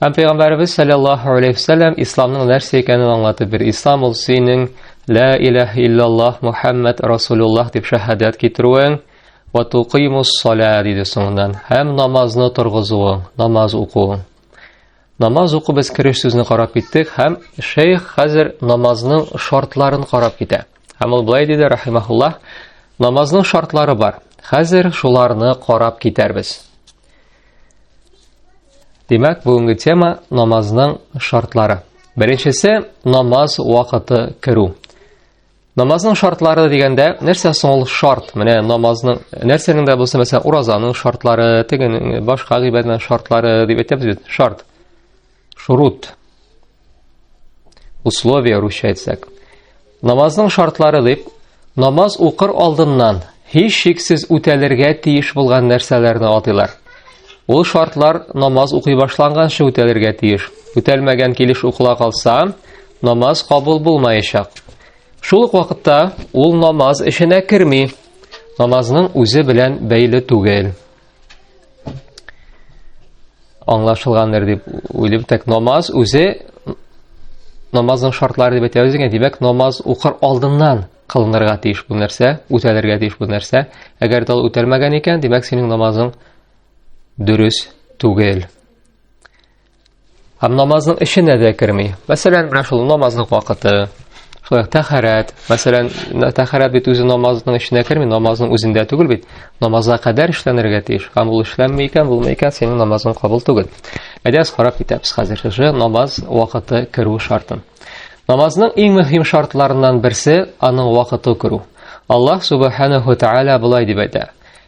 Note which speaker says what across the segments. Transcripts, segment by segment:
Speaker 1: Һәм пәйгамбәребез саллаллаһу алейхи вәсәлләм исламның нәрсә икәнен аңлатып бир. Ислам ул синең ла илаһ иллаллаһ Мухаммад расулуллаһ дип шәһадәт китерүең ва туқимус сала диде соңыннан. Һәм намазны торгызуың, намаз укуың. Намаз уку без кереш сүзне карап киттек һәм шейх хәзер намазның шартларын карап китә. Һәм ул былай диде рахимахуллаһ, намазның шартлары бар. Хәзер шуларны карап китәрбез. Димәк, бүгенге тема намазның шартлары. Беренчесе намаз вакыты керү. Намазның шартлары дигәндә, нәрсә соң ул шарт? Менә намазның нәрсәнең дә булса, мәсәлән, уразаның шартлары, тегенең башка гыйбадәтнең шартлары дип әйтәбез бит, шарт. Шурут. Условия русча әйтсәк. Намазның шартлары дип, намаз укыр алдыннан һич шиксез үтәлергә тиеш булган нәрсәләрне атыйлар. Ул шартлар намаз укый башланганчы үтәлергә тиеш. Үтәлмәгән килеш укыла калса, намаз кабул булмаячак. Шул ук вакытта ул намаз эшенә керми. Намазның үзе белән бәйле түгел. аңлашылгандыр дип уйлыйм так намаз үзе намазның шартлары дип әйтәбез икән димәк намаз укыр алдыннан кылынырга тиеш бу нәрсә үтәлергә тиеш бу нәрсә әгәр дә ул үтәлмәгән икән димәк синең намазың дөрес түгел Һәм намазның эченә дә керми. Мәсәлән, менә шул намазның вакыты, шулай ук тәхәрәт. Мәсәлән, тәхәрәт бит үзе намазның эченә керми, намазның үзендә түгел бит. Намазга кадәр эшләнергә тиеш. Һәм ул эшләнми икән, булмый икән, синең намазың кабул түгел. Әйдә, карап китәбез хәзер шушы намаз вакыты керү шартын. Намазның иң мөһим шартларыннан берсе аның вакыты керү. Аллаһ субханаһу тааля болай дип әйтә: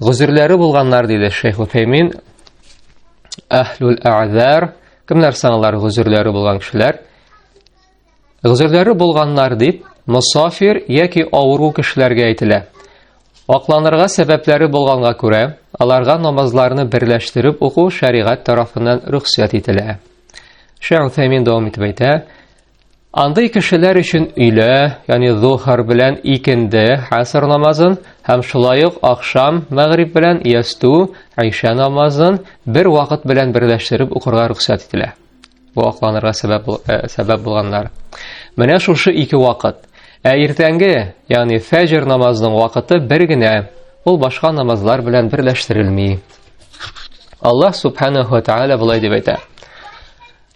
Speaker 1: Гозерләре булганнар диде Шейх Утәймин. Әһлүл әгъзар, кемнәр саналар гозерләре булган кешеләр? Гозерләре булганнар дип, мусафир яки авыру кешеләргә әйтелә. Акланырга сәбәпләре булганга күрә, аларга намазларны берләштереп уку шәригать тарафыннан рөхсәт ителә. Шәү Тәмин дәвам итеп әйтә, Андый кешеләр өчен өйлә, ягъни зухар белән икенде хәср намазын һәм шулай ук ахшам мәгъриб белән ясту айша намазын бер вакыт белән берләштереп укырга рөхсәт ителә. Бу акланырга сәбәп э, сәбәп булганнар. Менә шушы ике вакыт. Ә иртәнге, ягъни фәҗр намазының вакыты бер генә, ул башка намазлар белән берләштерелми. Аллаһ субханаһу ва тааля булай дип әйтә.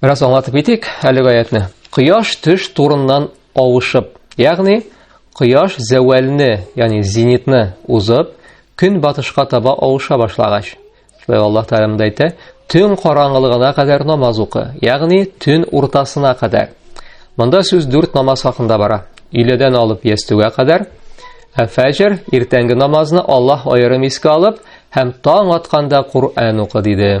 Speaker 1: Бераз аңлатып китик әлеге аятны. Кояш төш турыннан авышып, ягъни кояш зәвәлне, ягъни зенитны узып, көн батышка таба авыша башлагач. Шулай Аллаһ Тәгалә монда әйтә, төн караңгылыгына кадәр намаз укы, ягъни төн уртасына кадәр. Монда сүз дүрт намаз хакында бара. Өйләдән алып ястүгә кадәр, ә фәҗр иртәнге намазны Аллаһ аерым искә алып һәм таң атканда Коръән укы диде.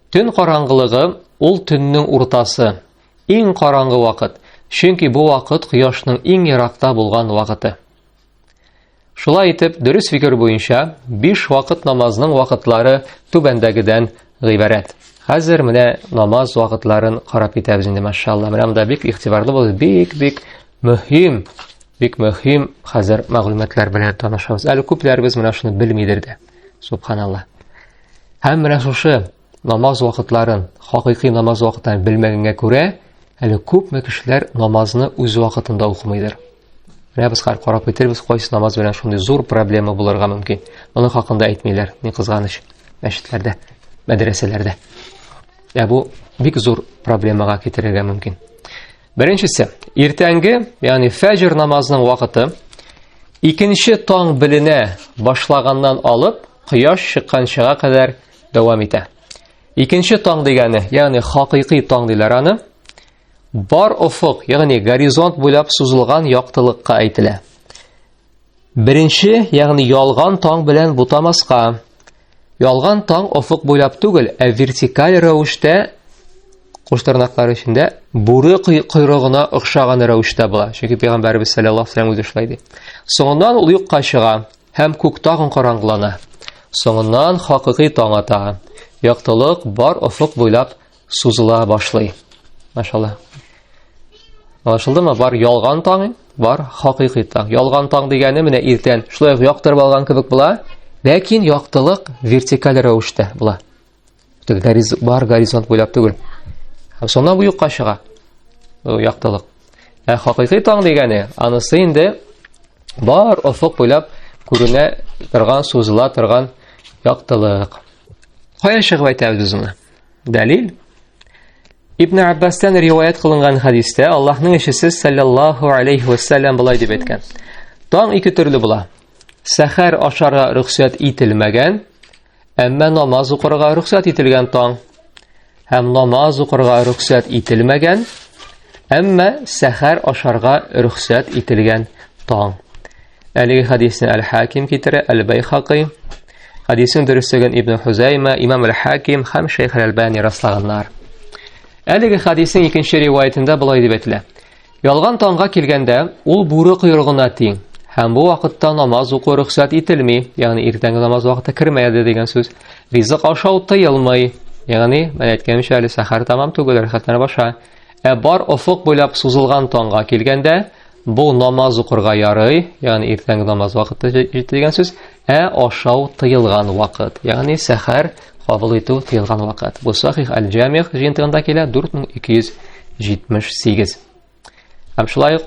Speaker 1: Төн караңгылыгы ул төннең уртасы, иң караңгы вакыт, чөнки бу вакыт кояшның иң еракта булган вакыты. Шулай итеп, дөрес фикер буенча, биш вакыт намазның вакытлары түбәндәгедән гыйбарәт. Хәзер менә намаз вакытларын карап китәбез инде, машалла. Менә монда бик игътибарлы булыгыз, бик-бик мөһим, бик мөһим хәзер мәгълүматлар белән танышабыз. Әле күпләребез менә шуны белмидер дә. Субханалла. Һәм менә шушы намаз вакытларын, хакыйкый намаз вакытларын белмәгәнгә күрә, әле күпме кешеләр намазны үз вакытында укымыйдыр. Менә без хәзер карап китербез, кайсы намаз белән шундый зур проблема булырга мөмкин. Моны хакында әйтмиләр, ни кызганыч, мәчетләрдә, мәдрәсәләрдә. Ә бу бик зур проблемага китерергә мөмкин. Беренчесе, иртәнге, ягъни фәҗр намазының вакыты икенче таң беленә башлаганнан алып Кояш чыкканчыга кадәр дәвам итә. Икенче таң дигәне, ягъни хакыйкый таң диләр аны, бар офык, ягъни горизонт буйлап сузылган яктылыкка әйтелә. Беренче, ягъни ялган таң белән бутамаска. Ялган таң офык буйлап түгел, ә вертикаль рәвештә куш тырнаклары эчендә бүре койрыгына охшаган рәвештә була. Чөнки пәйгамбәрбез саллаллаһу алейһи ва саллям үзе шулай ди. Соңыннан ул юкка чыга. Һәм күк тагын караңгылана. Соңыннан хакыйкый таң ата. Яктылык бар офык буйлап сузыла башлый. Машалла. Аңлашылдымы? Бар ялган таң, бар хакыйкый таң. Ялган таң дигәне менә иртән шулай яктырып алган кебек була, ләкин яктылык вертикаль рәвештә була. Гәриз, бар горизонт буйлап түгел. Һәм шуннан бу юкка чыга. Бу яктылык. Ә хакыйкый таң дигәне, анысы инде бар офык буйлап күренә торган, сузыла торган яктылык. Кая чыгып әйтәбез без моны? Дәлил. Ибн Аббастан риваят кылынган хадистә Аллаһның ишесе саллаллаһу алейхи ва саллям булай дип әйткән. Таң ике төрле була. Сәхәр ашарга рөхсәт ителмәгән, Әмма намаз укырга рөхсәт ителгән таң һәм намаз укырга рөхсәт ителмәгән, әмма сәхәр ашарга рөхсәт ителгән таң. Әлеге хадисне Әл-Хаким китерә, Әл-Байхакый. Хадисның дөресеген Ибн Хузайма, Имам Әл-Хаким һәм Шейх Әл-Әлбани раслаганнар. Әлеге хадисның икенче риваятендә болай дип әйтелә. Ялган таңга килгәндә, ул бүре койрыгына тиң. Һәм бу вакытта намаз уку рөхсәт ителми, ягъни иртәнге намаз вакыты кермәде дигән сүз. Ризык ашау тыелмый. Ягъни, мен әйткәнемчә, әле сәхәр тамам түгел, рәхәтләнеп баша. Ә бар офык буйлап сузылган таңга килгәндә, бу намаз укырга ярый, ягъни иртәнге намаз вакыты җитте дигән сүз, ә ашау тыелган вакыт, ягъни сәхәр Кабул итү тыелган вакыт. Бу Сахих аль-Җамих җыентыгында килә 4278. Һәм шулай ук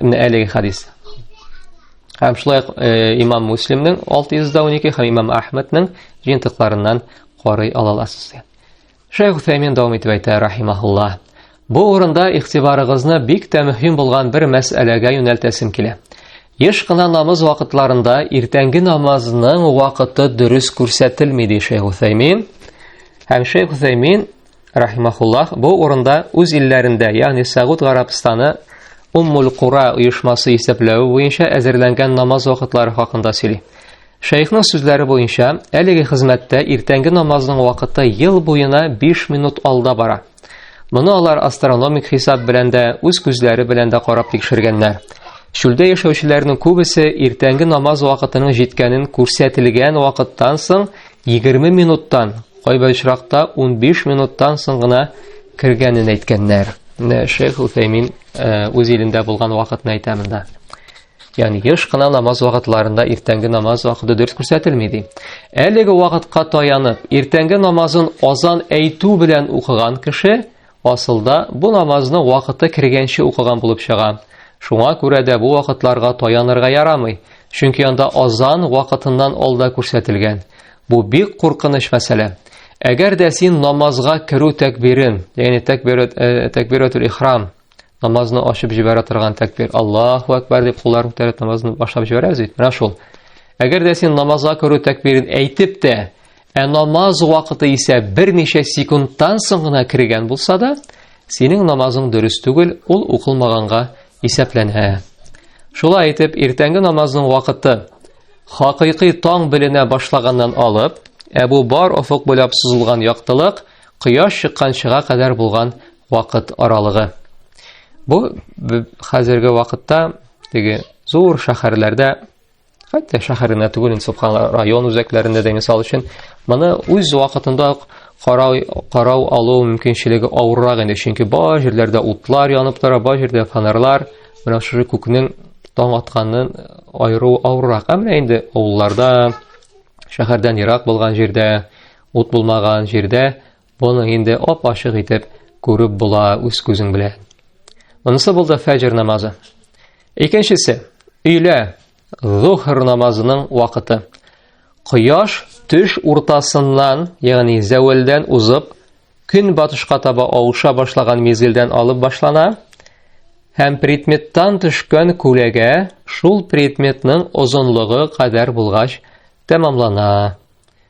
Speaker 1: менә әлеге хадис. Һәм шулай ук э, имам Муслимның 612 һәм имам Ахмәднең җыентыкларыннан карый ала аласыз. Шәйх Утәймин дәвам итеп әйтә, рахимахулла. Бу урында игътибарыгызны бик тә мөһим булган бер мәсьәләгә юнәлтәсем килә. Еш кына намаз вакытларында иртәнге намазның вакыты дөрес күрсәтелми, ди Шәйх Утәймин. Һәм Шәйх Утәймин, рахимахулла, бу урында үз илләрендә, ягъни Сәгуд Гарабстаны Уммул Кура оешмасы исәпләве буенча әзерләнгән намаз вакытлары хакында сөйли. Шәехның сүзләре буенча, әлеге хезмәттә иртәнге намазның вакыты ел буена 5 минут алда бара. Моны алар астрономик хисап белән дә, үз күзләре белән дә карап тикшергәннәр. Чүлдә яшәүчеләрнең күбесе иртәнге намаз вакытының җиткәнен күрсәтелгән вакыттан соң 20 минуттан, кайбер очракта 15 минуттан соң гына кергәнен әйткәннәр. Менә Шейх Утәймин э, үз илендә булган вакытны әйтә монда. Ягъни еш кына намаз вакытларында иртәнге намаз вакыты дөрес күрсәтелми ди. Әлеге вакытка таянып, иртәнге намазын азан әйтү белән укыган кеше асылда бу намазны вакыты кергәнче укыган булып чыга. Шуңа күрә дә бу вакытларга таянырга ярамый, чөнки анда азан вакытыннан алда күрсәтелгән. Бу бик куркыныч мәсьәлә. Әгәр дә син намазга керү тәкбирен, ягъни тәкбират э, тәкбиратул ихрам намазны ачып җибәрә торган тәкбир Аллаһу әкбәр дип куллар күтәреп намазны башлап җибәрәбез бит. Менә шул. Әгәр дә син намазга керү тәкбирен әйтеп тә, ә намаз вакыты исә берничә секундтан соң гына кергән булса да, синең намазың дөрес түгел, ул укылмаганга исәпләнә. Шулай итеп, иртәнге намазның вакыты хакыйкый таң беленә башлаганнан алып, Әбу Бар офык буйлап сузылган яктылык кояш чыкканчыга кадәр булган вакыт аралыгы. Бу хәзерге вакытта теге зур шәһәрләрдә хәтта шәһәренә түгел инде субханла район үзәкләрендә дә мисал өчен моны үз вакытында ук карау карау алу мөмкинчелеге авыррак инде чөнки бар җирләрдә утлар янып тора бар җирдә фонарлар менә шушы күкнең таң атканын айыру авыррак ә менә инде авылларда шәһәрдән ерак булган җирдә ут булмаган җирдә Моны инде ап-ачык итеп күреп була үз күзең белән. Монысы булды фәҗр намазы. Икенчесе, өйлә зухр намазының вакыты. Кояш төш уртасыннан, ягъни зәвәлдән узып, көн батышка таба авыша башлаган мизгелдән алып башлана һәм предметтан төшкән күләгә шул предметның озынлыгы кадәр булгач тәмамлана.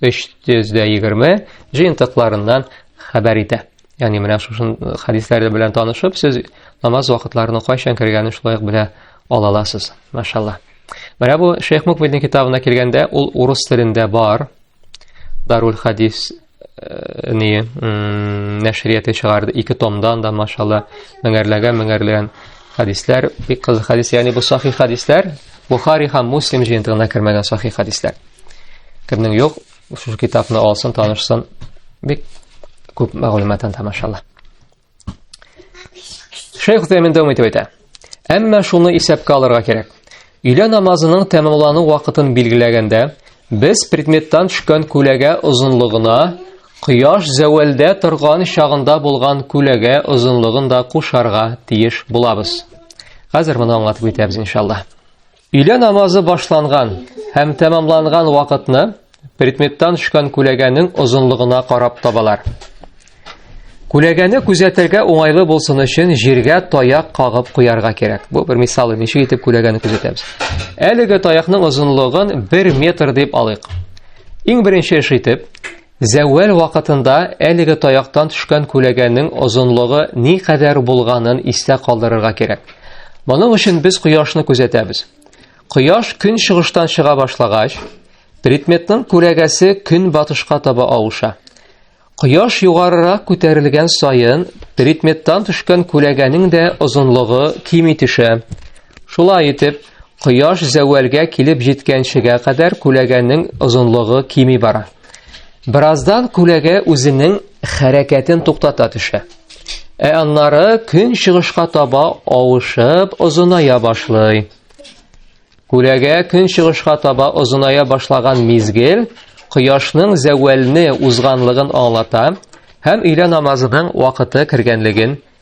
Speaker 1: 320 җыентыкларыннан хәбәр итә. Ягъни менә шушы хәдисләр белән танышып, сез намаз вакытларының кайчан кергәнен шулай ук белә ала аласыз. Машалла. Менә бу Шейх Мукбиднең китабына килгәндә, ул урыс телендә бар. Дарул хадис э, ни нәшрияте чыгарды ике томдан да машалла меңәрләгән меңәрләгән хәдисләр бик кызык хәдис ягъни бу сахи хәдисләр бухари һәм муслим җыентыгына кермәгән сахи хәдисләр Кемнең юк, шушы китапны алсын, танышсын. Бик күп мәгълүмат анда, машалла. Шейх Утаймен дәвам итеп әйтә. Әмма шуны исәпкә алырга кирәк. Өйлә намазының тәмамлану вакытын билгеләгәндә, без предметтан төшкән күләгә озынлыгына кояш зәвәлдә торган чагында булган күләгә озынлыгын да кушарга тиеш булабыз. Хәзер моны аңлатып үтәбез иншалла. Өйлә намазы башланган һәм тәмамланган вакытны предметтан төшкән күләгәнең озынлыгына карап табалар. Күләгәне күзәтергә уңайлы булсын өчен җиргә таяк кагып куярга кирәк. Бу бер мисал, ничек итеп күләгәне күзәтәбез. Әлеге таякның озынлыгын 1 метр дип алыйк. Иң беренче эш итеп, Зәвәл вакытында әлеге таяктан төшкән күләгәнең озынлыгы ни кадәр булганын истә калдырырга кирәк. Моның өчен без кояшны күзәтәбез. Кояш көн чыгыштан чыга башлагач, предметның күләгәсе көн батышка таба авыша. Кояш югарырак күтәрелгән саен, предметтан төшкән күләгәнең дә озынлыгы кими төшә. Шулай итеп, кояш зәвәлгә килеп җиткәнчегә кадәр күләгәнең озынлыгы кими бара. Бераздан күләгә үзенең хәрәкәтен туктата төшә. Ә аннары көн чыгышка таба авышып озыная башлый. Күләгә көн чыгышка таба озыная башлаган мизгел кояшның зәвәлне узганлыгын аңлата һәм өйлә намазының вакыты кергәнлеген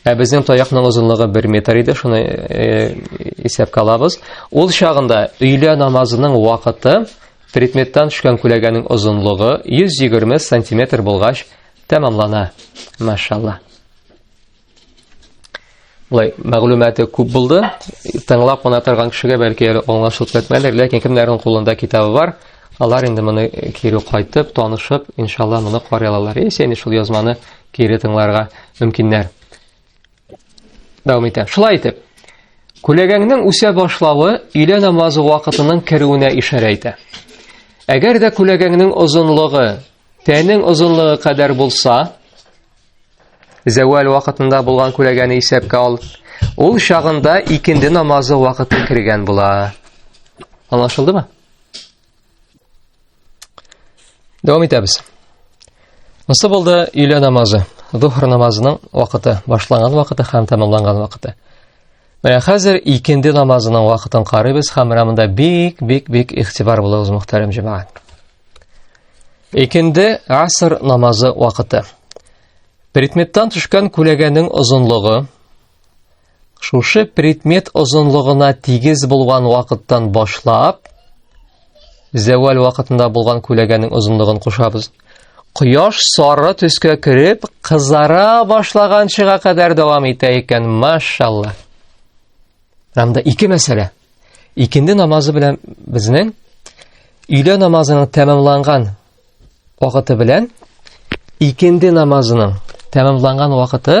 Speaker 1: Ә безнең таякның озынлыгы 1 метр иде, шуны э, исәпкә алабыз. Ул чагында өйлә намазының вакыты предметтан төшкән күләгәнең озынлыгы 120 сантиметр булгач тәмамлана. Машалла. Лай, мәгълүматы күп булды. Тыңлап кына торган кешегә бәлки әле аңлашылып китмәдер, ләкин кемнәрнең кулында китабы бар, алар инде моны кире кайтып, танышып, иншалла моны карый алалар. Исән шул язманы кире тыңларга мөмкиннәр. Дәвам итә. Шулай итеп, күләгәңнең үсә башлавы өйлә намазы вакытының керүенә ишарә итә. Әгәр дә күләгәңнең озынлыгы тәнең озынлыгы кадәр булса, зәвәл вакытында булган күләгәне исәпкә ал. Ул чагында икенде намазы вакыты кергән була. Аңлашылдымы? Дәвам итәбез. Монсы булды өйлә намазы. Зухр намазының вакыты, башланган вакыты һәм тәмамланган вакыты. Менә хәзер икенде намазының вакытын карыйбыз һәм рамында бик, бик, бик ихтибар булыгыз, мөхтәрәм җәмәгать. Икенде аср намазы вакыты. Предметтан төшкән күләгәнең озынлыгы Шушы предмет озынлыгына тигез булган вакыттан башлап, зәвәл вакытында булган күләгәнең озынлыгын кушабыз. Кояш сары төскә кереп, кызара башлаганчыга кадәр дәвам итә икән, машалла. Анда ике мәсьәлә. Икенде намазы белән безнең өйлә намазының тәмамланган вакыты белән икенде намазының тәмамланган вакыты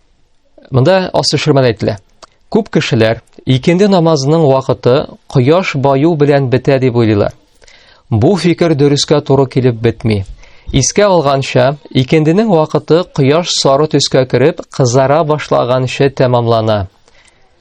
Speaker 1: Монда ас төшермәдә әйтелә. Күп кешеләр икенде намазының вакыты кояш баю белән бетә дип уйлыйлар. Бу фикер дөрескә туры килеп бетми. Искә алганча, икенденең вакыты кояш сары төскә кереп, кызара башлаганчы тәмамлана.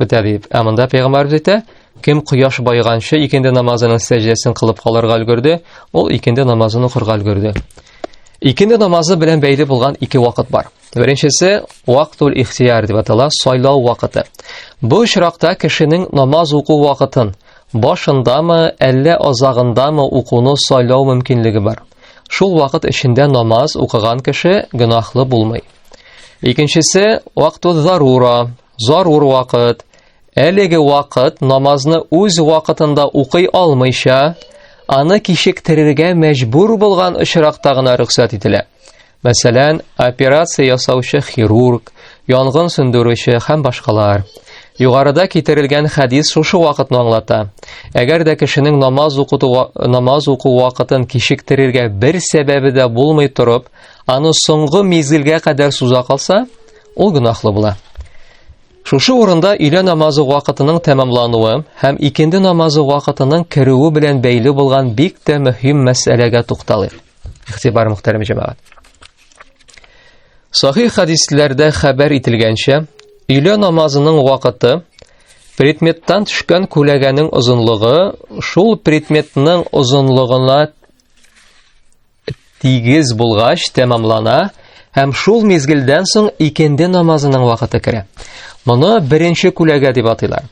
Speaker 1: Бетә дип. Ә монда пәйгамбәрбез әйтә, кем кояш байганчы икенде намазының сәҗдәсен кылып калырга өлгерде, ул икенде намазын укырга өлгерде. Икенде намазы белән бәйле булган ике вакыт бар. Беренчесе вактул ихтияр дип атала, сайлау вакыты. Бу очракта кешенең намаз уку вакытын башындамы, әллә азагындамы укуны сайлау мөмкинлеге бар. Шул вакыт эчендә намаз укыган кеше гөнаһлы булмый. Икенчесе вактул зарура, Зарур вакыт. Әлеге вакыт намазны үз вакытында укый алмыйча, аны кичектерергә мәҗбүр булган очракта гына рөхсәт ителә. Мәсәлән, операция ясаучы хирург, янгын сүндерүче һәм башкалар. Югарыда китерелгән хәдис шушы вакытны аңлата. Әгәр дә кешенең намаз укыту намаз уку вакытын кичектерергә бер сәбәбе дә булмый торып, аны соңгы мизгелгә кадәр суза калса, ул гөнаһлы була. Шушы урында өйлә намазы вакытының тәмамлануы һәм икенде намазы вакытының керүе белән бәйле булган бик тә мөһим мәсьәләгә тукталыйк. Ихтибар мөхтәрәм җәмәгать. Сахих хадисләрдә хәбәр ителгәнчә, өйлә намазының вакыты предметтан төшкән күләгәнең озынлыгы шул предметның озынлыгына тигез булгач тәмамлана һәм шул мизгелдән соң икенде намазының вакыты керә. Моны беренче күләгә дип атыйлар.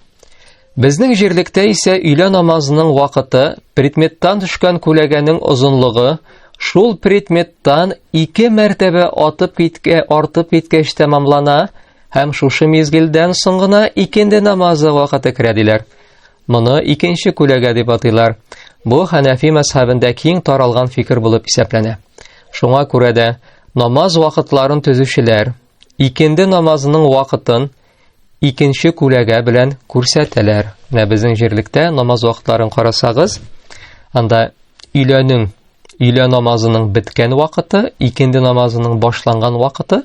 Speaker 1: Безнең җирлектә исә өйлә намазының вакыты предметтан төшкән күләгәнең озынлыгы шул предметтан ике мәртәбә атып киткә артып киткәч тәмамлана һәм шушы мизгелдән соң гына икенде намазы вакыты керә диләр. Моны икенче күләгә дип атыйлар. Бу Хәнәфи мәзһәбендә киң таралган фикер булып исәпләнә. Шуңа күрә дә намаз вакытларын төзүчеләр икенде намазының вакытын икенче күләгә белән күрсәтәләр. Менә безнең җирлектә намаз вакытларын карасагыз, анда өйләнү өйлә намазының беткән вакыты, икенде намазының башланган вакыты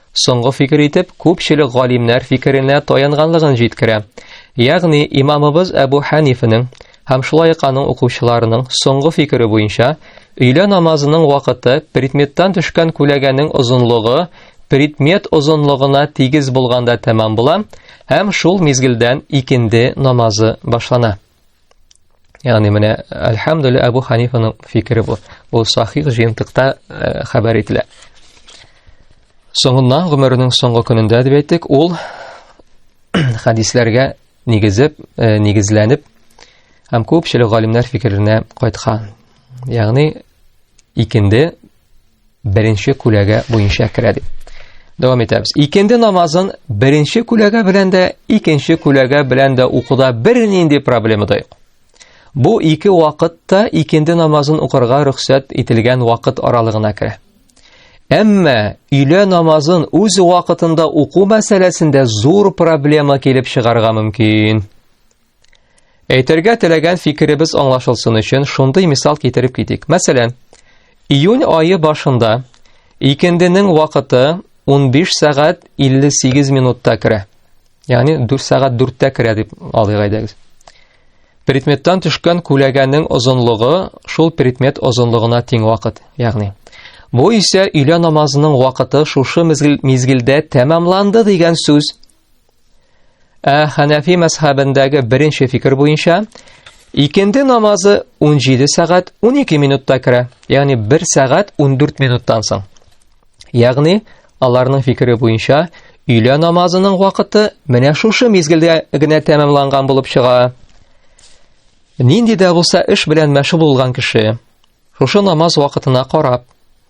Speaker 1: Соңгы фикер итеп күпчелек галимнәр фикеренә таянганлыгын җиткерә. Ягъни имамыбыз Әбу Хәнифенең һәм шулай ук аның укучыларының соңгы фикере буенча өйлә намазының вакыты предметтан төшкән күләгәнең озынлыгы предмет озынлыгына тигез булганда тәмам була һәм шул мизгелдән икенде намазы башлана. Ягъни менә Әлхәмдүле Әбу Ханифаның фикере бу. Ул сахих җыентыкта э, хәбәр ителә. Соңыннан гомеренең соңгы көнендә дип әйттек, ул хадисләргә нигезеп, э, нигезләнеп һәм күпчелек галимнәр фикеренә кайткан. Ягъни икенде беренче күләгә буенча керә дип. Дәвам итәбез. Икенде намазын беренче күләгә белән дә, икенче күләгә белән дә укуда бернинди проблема да юк. Бу ике вакытта икенде намазын укырга рөхсәт ителгән вакыт аралыгына керә. Әмма өйлә намазын үз вакытында уку мәсьәләсендә зур проблема килеп чыгарга мөмкин. Әйтергә теләгән фикеребез аңлашылсын өчен шундый мисал китереп китик. Мәсәлән, июнь айы башында икенденең вакыты 15 сәгать 58 минутта керә. Ягъни 4 сәгать 4-тә керә дип алыйк әйдәгез. Предметтан төшкән күләгәнең озынлыгы шул предмет озынлыгына тиң вакыт, ягъни. Бу исә өйлә намазының вакыты шушы мизгелдә тәмамланды дигән сүз Ә Хәнәфи мәзхәбендәге беренче фикер буенча, икенде намазы 17 сәгать 12 минутта керә, ягъни 1 сәгать 14 минуттан соң. Ягъни, аларның фикере буенча, өйлә намазының вакыты менә шушы мизгелдә генә тәмамланган булып чыга. Нинди дә булса эш белән мәшгуль булган кеше, Шушы намаз вакытына карап,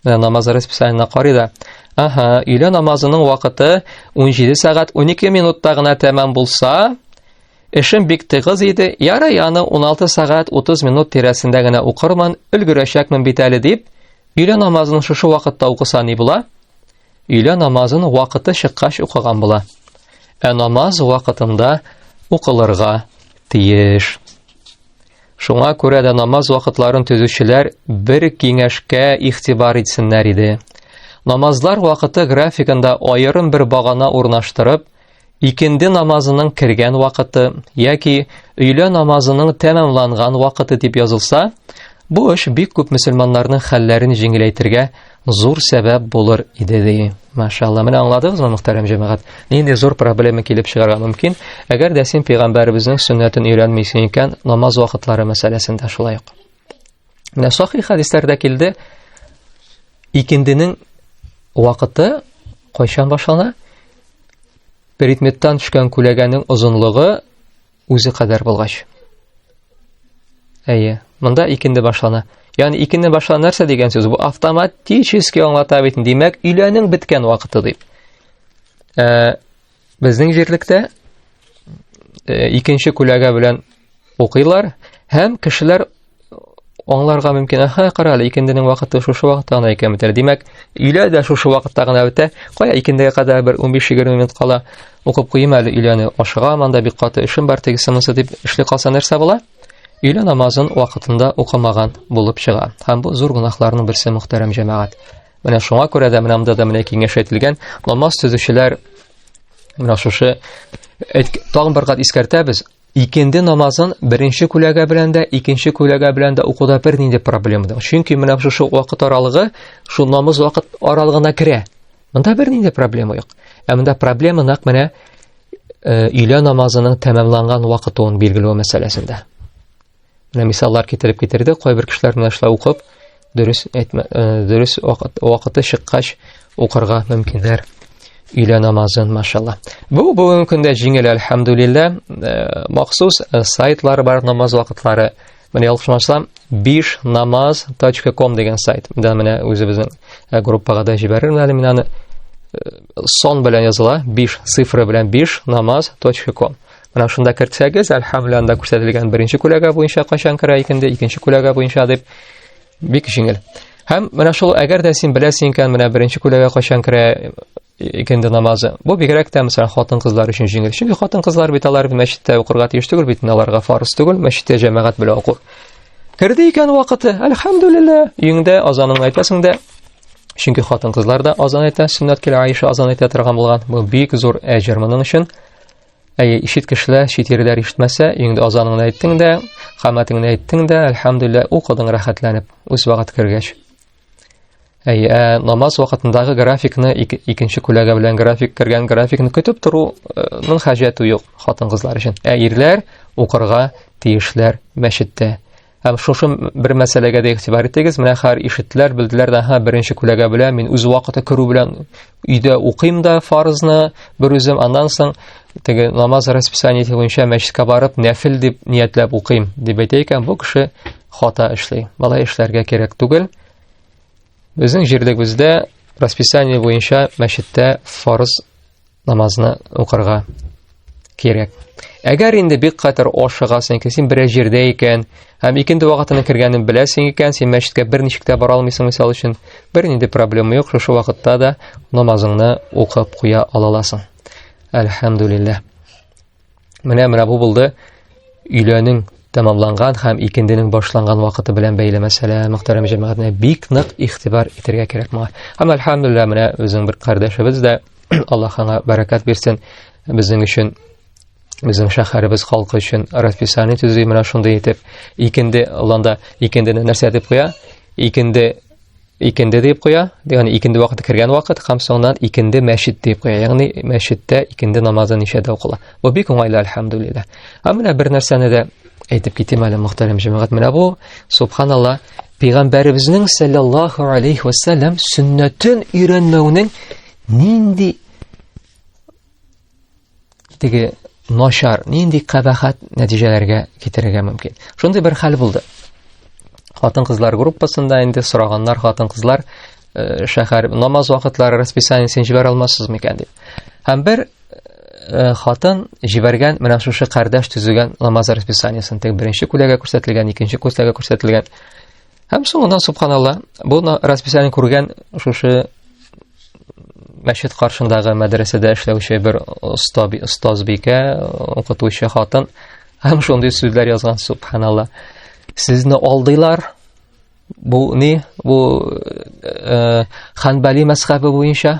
Speaker 1: э, намаз расписаниена карый да, аһа, өйлә намазының вакыты 17 сәгать 12 минутта гына тәмам булса, эшем бик тыгыз иде, ярый аны 16 сәгать 30 минут тирәсендә генә укырман, өлгерәчәкмен бит әле дип, өйлә намазын шушы вакытта укыса ни була? өйлә намазын вакыты чыккач укыган була. Ә намаз вакытында укылырга тиеш. Шуңа күрә дә намаз вакытларын төзүчеләр бер киңәшкә ихтибар итсеннәр иде. Намазлар вакыты графигында аерым бер багана урнаштырып, Икенде намазының кергән вакыты яки өйлә намазының тәмамланган вакыты дип язылса, бу эш бик күп мөселманнарның хәлләрен җиңеләйтергә зур сәбәп булыр иде ди. Машалла, менә аңладыгызмы, мөхтәрәм җәмәгать? Нинди зур проблема килеп чыгарга мөмкин, әгәр дә син пәйгамбәребезнең сөннәтен өйрәнмисең икән, намаз вакытлары мәсьәләсендә шулай ук. Менә сахи хәдисләрдә килде, икенденең вакыты кайчан башлана? Предметтан төшкән күләгәнең озынлыгы үзе кадәр булгач. Әйе, монда икенде башлана. Ягъни икенде башлана нәрсә дигән сүз? Бу автоматически аңлата бит. Димәк, өйләнең беткән вакыты дип. Э, Безнең җирлектә э, икенче күләгә белән укыйлар һәм кешеләр аңларга мөмкин. Аха, кара әле, икенденең вакыты шушы вакытта гына икән бит. Димәк, өйлә дә шушы вакытта гына үтә. Кая икендегә кадәр бер 15-20 минут кала укып куйым әле өйләне. Ашыга манда бик каты эшем бар тегесе монсы дип эшли калса нәрсә була? Өйлә намазын вакытында укымаган булып чыга. Һәм бу зур гунахларның берсе мөхтәрәм җәмәгать. Менә шуңа күрә дә менә монда да менә киңәш әйтелгән. Намаз төзүчеләр менә шушы тагын бер кат искәртәбез. Икенде намазын беренче күләгә белән дә, икенче күләгә белән дә укуда бер нинди проблема да. Чөнки менә шушы вакыт аралыгы шул намаз вакыт аралыгына керә. Монда бер нинди проблема юк. Ә монда проблема нәкъ менә э, өйлә намазының тәмамланган вакытын билгеләү мәсьәләсендә. Менә мисаллар китереп китерде, кайбер кешеләр менә шулай укып, дөрес әйтмә, э, дөрес вакыты чыккач укырга мөмкиннәр. Өйлә намазын, машалла. Бу бүгенге көндә җиңел, альхамдулилла. Э, махсус э, сайтлары бар намаз вакытлары. Менә ялгышмасам, биш намаз .com дигән сайт. Менә менә үзебезнең группага да җибәрермен әле мин аны. Сон белән языла, биш цифры белән биш намаз .com. Менә шунда кертсәгез, әлхәмле анда күрсәтелгән беренче күләгә буенча кайчан керә икенде, икенче күләгә буенча дип бик җиңел. Һәм менә шул әгәр дә син беләсең икән, менә беренче күләгә кайчан керә икенде намазы. Бу бигрәк тә мәсәлән хатын-кызлар өчен җиңел. Чөнки хатын-кызлар бит алар мәчеттә укырга тиеш түгел бит, аларга фарыз түгел мәчеттә җәмәгать белән уку. Керде икән вакыты, әлхәмдүлилләһ, өеңдә азаныңны әйтәсең дә, чөнки хатын-кызлар да азан әйтә, сөннәт килә Аиша азан әйтә торган булган. Бу бик зур әҗер моның өчен. Әйе, ишеткешләр, читерләр ишетмәсә, өеңдә азаныңны әйттең дә, хаматыңны әйттең дә, әлхәмдүлилләһ, укыдың рәхәтләнеп, үз вакыт кергәч. Әйе, ә намаз вакытындагы графикны ик, икенче күләгә белән график кергән графикны көтеп торуның хаҗәте юк хатын-кызлар өчен. Ә ирләр укырга тиешләр мәчеттә. Һәм шушы бер мәсьәләгә дә игътибар итегез. Менә хәр ишетләр, белделәр дә, һа, беренче күләгә белә, мин үз вакыты керү белән өйдә укыйм да фарызны бер үзем, аннан соң теге намаз расписание буенча мәчеткә барып, нәфил дип ниятләп укыйм, дип әйтә икән, бу кеше хата эшли. Бала эшләргә кирәк түгел. Безнең җирлегебездә расписание буенча мәчеттә фарыз намазны укырга кирәк. Әгәр инде бик катыр ашыгасың икән, син берәр җирдә икән, һәм икенде вакытына кергәнен беләсең икән, син мәчеткә берничек тә бара алмыйсың, мисал өчен, бернинди проблема юк, шушы вакытта да намазыңны укып куя аласың. Әлхәмдулиллаһ. Менә менә бу булды өйләнең тәмамланган һәм икенденең башланган вакыты белән бәйле мәсьәлә мөхтәрәм җәмәгатьне бик нык игътибар итәргә кирәк моңа. Һәм альхамдулилла менә үзең бер кардәшебез дә Аллаһ аңа бәрәкәт бирсен. Безнең өчен безнең шәһәребез халкы өчен расписание төзи менә шундый итеп. Икенде ланда икендене нәрсә дип куя? Икенде икенде дип куя, ягъни икенде вакыты кергән вакыт һәм соңыннан икенде мәчет дип куя. Ягъни мәчеттә икенде намазы ничәдә укыла. Бу бик уңайлы альхамдулилла. Ә менә бер нәрсәне дә әйтеп китим әле мөхтәрәм җәмәгать. Менә бу субханалла пәйгамбәребезнең саллаллаху алейхи ва саллям сөннәтен өйрәнмәүнең нинди теге начар нинди кабахат нәтиҗәләргә китерергә мөмкин шундый бер хәл булды хатын кызлар группасында инде сораганнар хатын кызлар э, шәһәр намаз вакытлары расписаниесен җибәрә алмассыз микән дип һәм бер э, хатын җибәргән менә шушы кардәш төзегән намаз расписаниесен теге беренче күләгә күрсәтелгән икенче күләгә күрсәтелгән Һәм соңына субханалла, бу расписание күргән шушы мәчет каршындагы мәдрәсәдә эшләүче бер оста остазбикә, укытучы хатын һәм шундый сүзләр язган субханалла. Сезне алдылар. Бу ни? Бу э, Ханбали мәсхабы буенча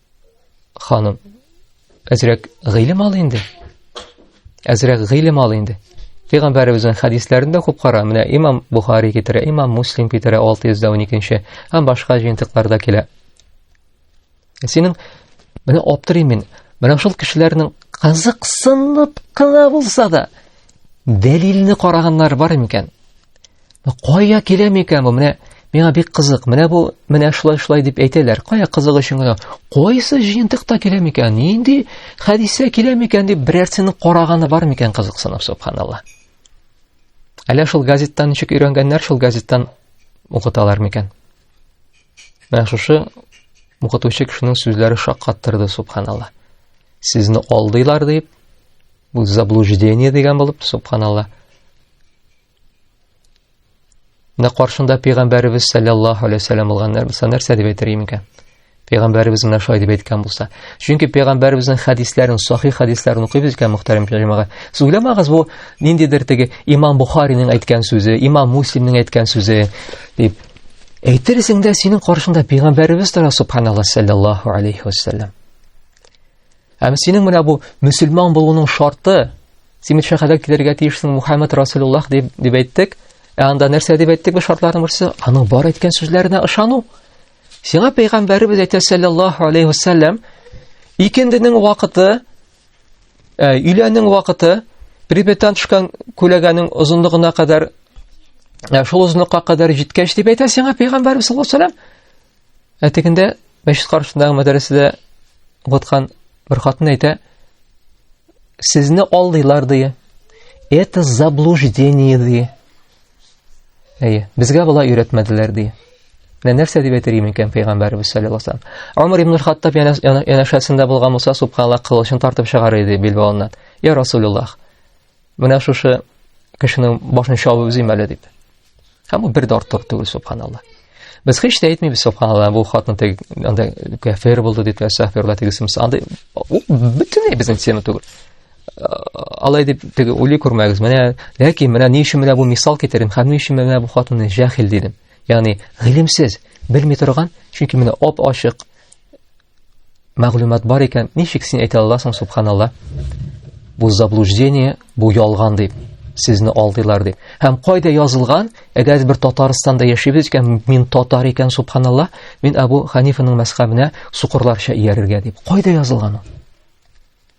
Speaker 1: Ханым, әзрәк гыйлем ал инде. Әзрәк гыйлем ал инде. Пәйгамбәребезнең хәдисләрендә күп кара, менә имам Бухари китерә, имам Муслим китерә 612-нче, һәм башка җыентыкларда килә. Синең менә аптырыйм мин, менә шул кешеләрнең кызыксынып кына булса да, дәлилне караганнар бар микән? Кая килә микән бу? Менә миңа бик кызык. Менә бу, менә шулай шулай дип әйтәләр. Кая кызык өчен генә. Кайсы җыентыкта килә микән? Нинди хәдисә килә микән дип берәрсенең караганы бар микән кызыксынып, субханалла. Әллә шул газеттан ничек өйрәнгәннәр, шул газеттан укыталар микән? Менә шушы укытучы кешенең сүзләре шаккаттырды, субханалла. Сезне алдыйлар дип, бу заблуждение дигән булып, субханалла. Менә каршында пәйгамбәребез саллаллаһу алейһи вәсәлләм булган нәрсә нәрсә дип әйтер имикән? Пәйгамбәребез менә шулай дип әйткән булса. Чөнки пәйгамбәребезнең хәдисләрен, сахих хәдисләрен укыйбыз икән, мөхтәрәм җәмәгать. Сез уйламагыз, бу ниндидер теге Имам Бухариның әйткән сүзе, Имам Муслимның әйткән сүзе дип. Әйтерсең дә синең каршында пәйгамбәребез тора, субханаллаһ саллаллаһу алейһи вәсәлләм. Әм синең менә бу мөселман булуның шарты, син бит шәһәргә килергә тиешсең, Мухаммад Расулуллах дип дип әйттек. Ә анда нәрсә дип әйттек бу шартларның берсе? Аның бар әйткән сүзләренә ышану. Сиңа пәйгамбәребез әйтә саллаллаһу алейхи вассалам, икенденең вакыты, ә, өйләнең вакыты, прибетан төшкән күләгәнең озынлыгына кадәр, ә, шул озынлыкка кадәр җиткәч дип әйтә сиңа пәйгамбәребез саллаллаһу алейхи вассалам. Ә тегендә мәчет каршындагы мәдрәсәдә укыткан бер хатын әйтә, сезне алдыйлар ди. Это заблуждение ди. Әйе, безгә болай өйрәтмәделәр ди. Менә нәрсә дип әйтер идем икән пәйгамбәрбез саллаллаху алейһи ва саллям. Умар ибн Хаттаб янәшәсендә булган Муса субханаллаһ кылычын тартып чыгар иде билбавыннан. Я Расулуллах, Менә шушы кешенең башын чабып үзем әле дип. Һәм бу бер дә артык түгел, субханалла. Без һич тә әйтмибез, субханалла, бу хатын теге анда кафир булды дип, сәхфирла тегесемс. Анда бөтенләй безнең тема түгел. Алай дип теге ули күрмәгез. Менә, ләкин менә ни өчен менә бу мисал китердем, һәм ни өчен менә бу хатынны җәһил дидем. Ягъни, гыйлемсез, белми торган, чөнки менә оп-ачык Мәгълүмат бар икән, ничек син әйтә аласың, субханалла? Бу заблуждение, бу ялган дип, сезне алдыйлар дип. Һәм кайда язылган? Әгәр бер Татарстанда яшибез икән, мин татар икән, субханалла, мин Абу Ханифаның мәсхабына сукырларча иярергә дип. Кайда язылган ул?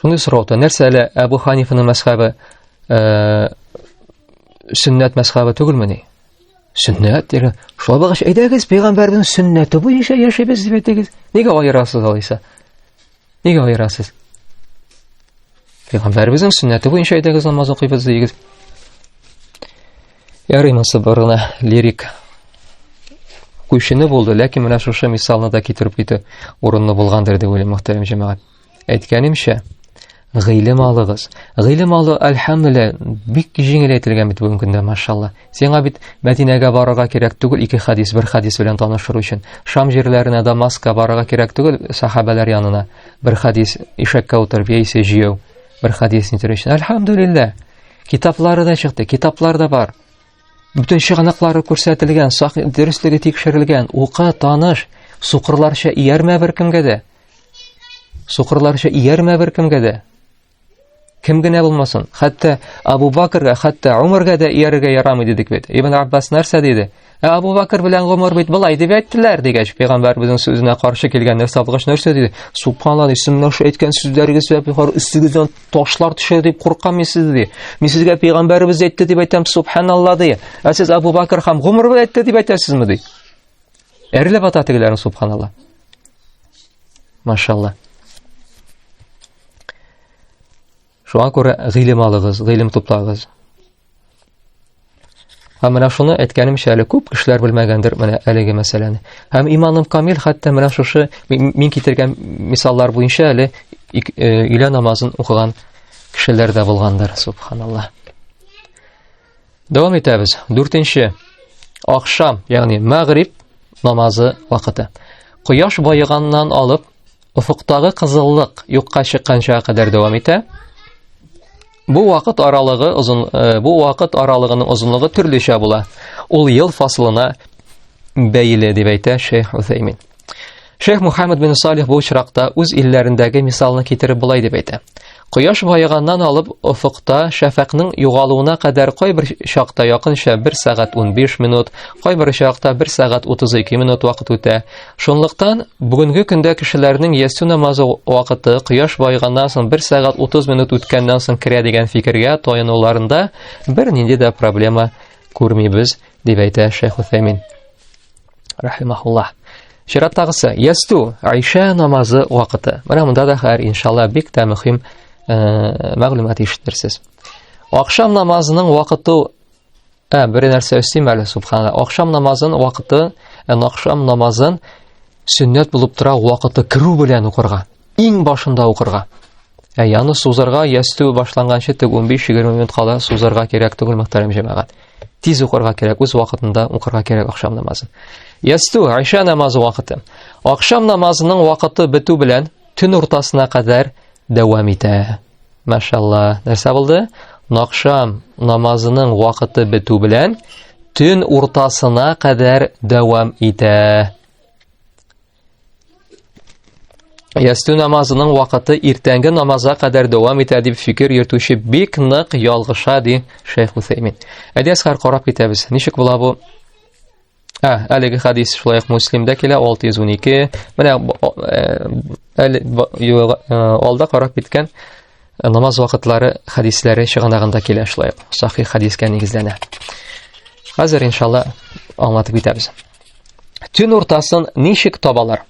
Speaker 1: Шуны сораута, нәрсә әле Әбу Ханифаны мәсхабы э, сөннәт мәсхабы түгелме ни? Сөннәт дигән, шулай булгач, әйдәгез, пәйгамбәрнең сөннәте буенча яшәбез дип әйтегез. Нигә аерасыз алайса? Нигә аерасыз? Пәйгамбәребезнең сөннәте буенча әйдәгез намаз укыйбыз дигез. Ярый монсы борына лирик күчене булды, ләкин менә шушы мисалны да китереп китү урынлы булгандыр дип уйлыйм, мөхтәрәм җәмәгать. Әйткәнемчә, гыйлем алыгыз. Гыйлем алу, әлхәмдүлилла, бик җиңеләйтелгән бит бүгенге көндә, машалла. Сиңа бит Мәдинәгә барырга кирәк түгел, ике хадис, бер хадис белән танышыр өчен. Шам җирләренә Дамаска барырга кирәк түгел, сахабәләр янына. Бер хадис ишәккә утырып яисә җияү, бер хадис нитер өчен. Әлхәмдүлилла. Китаплары да чыкты, китаплар да бар. Бүтән чыганаклары күрсәтелгән, сак дөреслеге тикшерелгән, ука таныш, сукырларча иярмә бер кемгә дә. Сукырларча иярмә бер кемгә дә. Кем генә булмасын, хәтта Абу Бакрга, хәтта Умарга да иярергә ярамый дидек бит. Ибн Аббас нәрсә диде? Ә Абу Бакр белән Умар бит былай дип әйттеләр дигәч, пәйгамбәрбезнең сүзенә каршы килгән нәрсә алгач нәрсә диде? Субханалла, сез менә шул әйткән сүзләрегез сәбәпле хор өстегездән ташлар төшер дип куркам мин сез ди. Мин сезгә пәйгамбәребез әйтте дип әйтәм, субханалла ди. Ә сез Абу Бакр хам гомер буе әйтте дип әйтәсезме ди? Әрләп ата тегеләрен субханалла. Машалла. Шуңа күрә гыйлем алыгыз, гыйлем туплагыз. Һәм менә шуны әйткәнемчә әле күп кешеләр белмәгәндер менә әлеге мәсьәләне. Һәм иманым камил хәтта менә шушы мин китергән мисаллар буенча әле өйлә намазын укыган кешеләр дә булгандыр, субханалла. Дәвам итәбез. Дүртенче. Ахшам, ягъни мәгриб намазы вакыты. Кояш баеганнан алып Офыктагы кызыллык юкка чыкканчага кадәр дәвам итә. Бу вакыт аралыгы озын э, бу вакыт аралыгының озынлыгы төрлечә була. Ул ел фасылына бәйле дип әйтә Шейх Усаймин. Шейх Мухаммад бин Салих бу очракта үз илләрендәге мисалны китереп болай дип әйтә. Кояш баеганнан алып офыкта шәфәкнең югалуына кадәр кайбер чакта якынча 1 сәгать 15 минут, кайбер чакта 1 сәгать 32 минут вакыт үтә. Шунлыктан бүгенге көндә кешеләрнең ясу намазы вакыты кояш баеганнан соң 1 сәгать 30 минут үткәннән соң керә дигән фикергә таянуларында бернинди дә проблема күрмибез, дип әйтә Шәйх Усәймин. рахимахуллах чираттагысы ясту айша намазы вакыты менә монда да хәер иншалла бик тә мөһим э, мәгълүмат ишетерсез ахшам намазының вакыты ә бер нәрсә өстим әле субханалла ахшам намазын вакыты э, ахшам намазын сөннәт булып тора вакыты керү белән укырга Иң башында укырга. Ә яны сузарга, ястү башланганчы тек 15-20 минут кала сузарга кирәк түгел, мөхтәрәм җәмәгать. Тиз укырга кирәк, үз вакытында укырга кирәк ахшам намазын. Ястү, Айша намазы вакыты. Ахшам намазының вакыты бетү белән төн уртасына кадәр дәвам итә. Машалла, нәрсә булды? Нахшам намазының вакыты бетү белән төн уртасына кадәр дәвам итә. Ястү намазының вакыты иртәнге намазга кадәр дәвам итә дип фикер йөртүче бик нык ялгыша ди Шейх Усеймин. Әдәскар карап китәбез. Ничек була бу? Ә, әлеге хадис шулай ук Муслимдә килә 612. Менә әле алда карап киткән намаз вакытлары хадисләре чыганагында килә шулай ук. Сахих хадискә нигезләнә. Хәзер иншалла аңлатып китәбез. Төн уртасын ничек табалар?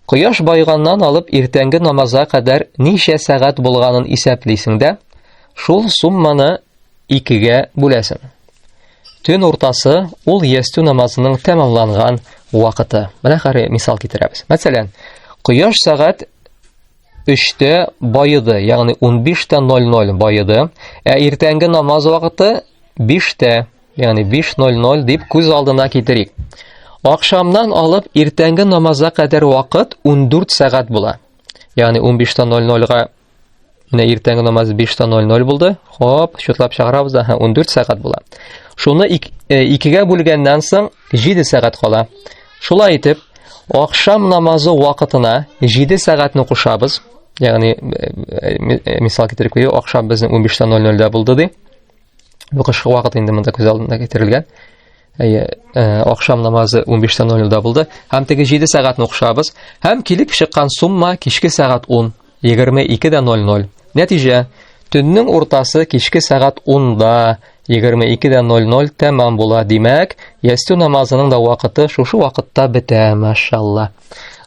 Speaker 1: Кояш байганнан алып иртәнге намазга кадәр ничә сәгать булганын исәплисең дә, шул сумманы икегә бүләсең. Төн уртасы ул ястү намазының тәмамланган вакыты. Менә хәре мисал китерәбез. Мәсәлән, кояш сәгать 3-тә баеды, ягъни 15:00 байыды, ә иртәнге намаз вакыты 5-тә Ягъни 5.00 дип күз алдына китерик. Акшамнан алып иртәнге намазга кадәр вакыт 14 сәгать була. Ягъни 15.00-га менә иртәнге намаз 5.00 булды. Хоп, шутлап чыгарабыз да, 14 сәгать була. Шуны э, икегә бүлгәннән соң 7 сәгать кала. Шулай итеп, акшам намазы вакытына 7 сәгатьне кушабыз. Ягъни э, э, мисал китерик, акшам безнең 15.00-дә булды ди. Бу кышкы вакыт инде монда күз алдына китерелгән. Әйе, э, ахшам намазы 15:00-да булды. Һәм теге 7 сәгатьне укшабыз. Һәм килеп чыккан сумма кичке сәгать 10, 22:00. Нәтиҗә, төннең уртасы кичке сәгать 10-да 22:00 тәмам була. Димәк, ястү намазының да вакыты шушы вакытта бетә, машалла.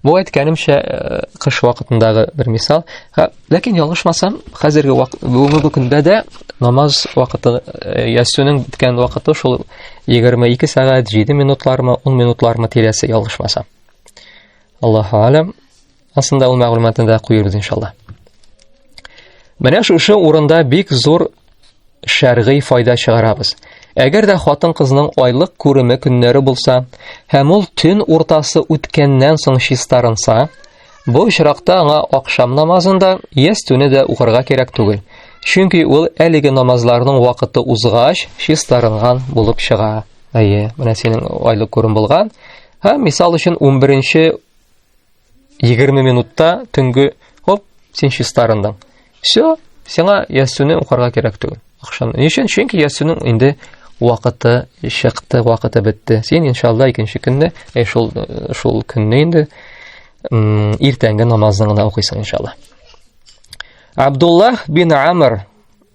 Speaker 1: Бу әйткәнемчә э, кыш вакытындагы бер мисал. Ләкин ялгышмасам, хәзерге бүгенге көндә дә намаз вакыты э, ясүнең биткән вакыты шул 22 сәгать 7 минутлармы, 10 минутлармы тирәсе ялгышмасам. Аллаһу алам. Асында ул мәгълүматны да куйырбыз иншалла. Менә шушы урында бик зур Шәргый файда чыгарабыз. Әгәр дә хатын-кызның айлык күреме көннәре булса, һәм ул төн уртасы үткәннән соң чистарынса, бу очракта аңа акшам намазын да, ястүне дә укырга кирәк түгел. Чөнки ул әлеге намазларның вакыты узгач, чистарынган булып чыга. Әйе, менә синең айлык күрем булган. Һәм мисал өчен 11 20 минутта төнге хоп, син чистарындың. Все, сиңа ясүне укырга кирәк түгел. Акшам. Ни өчен? Чөнки ясүнең инде вакыты чыкты, вакыты бетте. Син иншалла икенче көнне, э, шул э, шул көнне инде иртәнге намазны гына укыйсың иншалла. Абдулла бин Амр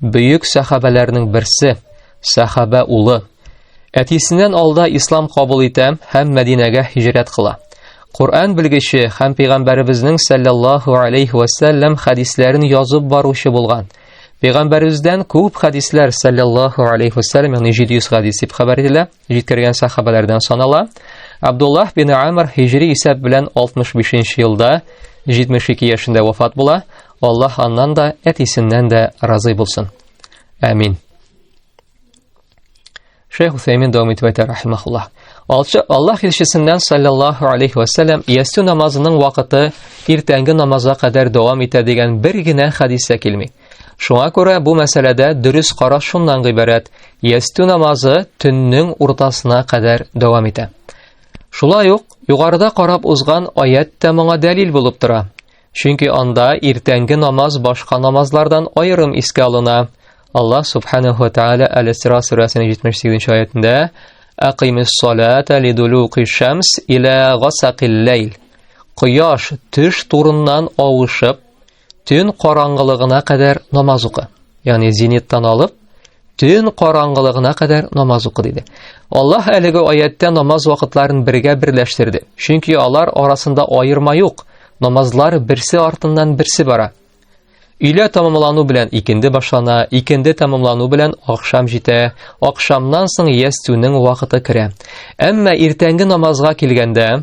Speaker 1: Бөек сәхабәләрнең берсе, сәхабә улы. Әтисеннән алда ислам кабул итә һәм Мәдинәгә һиҗрәт кыла. Коръән белгече һәм пәйгамбәребезнең саллаллаһу алейхи ва саллям хәдисләрен язып баручы булган. Пәйгамбәребездән күп хәдисләр саллаллаһу алейхи ва саллям, ягъни 700 хәдис дип хәбәр ителә. җиткергән сахабәләрдән санала. Абдуллах бин Амр һиҗри исәп белән 65 нче елда 72 яшендә вафат була. Аллаһ аннан да, әтисеннән дә разый булсын. Амин. Шейх Усаймин дәвам итеп әйтә рахимахуллаһ. Аллаһ илчесеннән саллаллаһу алейхи ва саллям ястү намазының вакыты иртәнге намазга кадәр дәвам итә дигән бер генә хадис тә килми. Шуңа күрә бу мәсьәләдә дөрес караш шуннан гыйбарәт, ястү намазы төннең уртасына кадәр дәвам итә. Шулай ук югарыда карап узган аят та моңа дәлил булып тора. Чөнки анда иртәнге намаз башка намазлардан аерым искә алына. Аллаһ субханаһу ва тааля Әл-Исра сүрәсенең 78-нче аятында Aqimiss salata liduluqi shams ila ghasaqil layl. Кояш төш турыннан авышып, Төн караңгылыгына кадәр намаз укы. Ягъни зениттан алып, төн караңгылыгына кадәр намаз укы диде. Аллаһ әлеге аяттә намаз вакытларын бергә берләштерде. Чөнки алар арасында аерма юк. Намазлар берсе артыннан берсе бара. Өйлә тамамлану белән икенде башлана, икенде тамамлану белән акшам җитә, акшамнан соң ястүнең вакыты керә. Әмма иртәнге намазга килгәндә,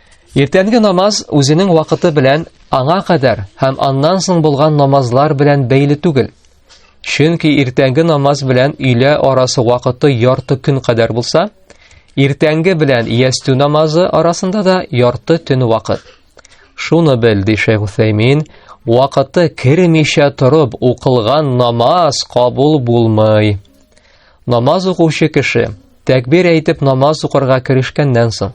Speaker 1: Иртәнге намаз үзенең вакыты белән аңа кадәр һәм аннан соң булган намазлар белән бәйле түгел. Чөнки иртәнге намаз белән өйлә арасы вакыты ярты көн кадәр булса, иртәнге белән ястү намазы арасында да ярты төн вакыт. Шуны бел, ди Шейх Усәймин, вакыты кермичә торып укылган намаз кабул булмый. Намаз укучы кеше тәкбир әйтеп намаз укырга керешкәннән соң,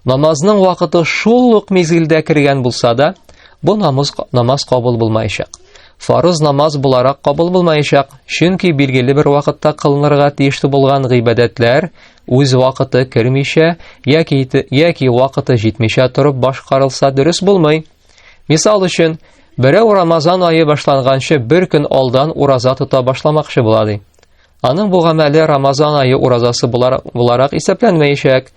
Speaker 1: намазның вакыты шул ук мизгелдә кергән булса да, бу намаз намаз кабул булмаячак. Фарыз намаз буларак кабул булмаячак, чөнки билгеле бер вакытта кылынырга тиешле булган гыйбадәтләр үз вакыты кермичә яки яки вакыты җитмичә торып башкарылса дөрес булмый. Мисал өчен, берәү Рамазан айы башланганчы бер көн алдан ураза тота башламакчы була ди. Аның бу гамәле Рамазан айы уразасы буларак, буларак исәпләнмәячәк.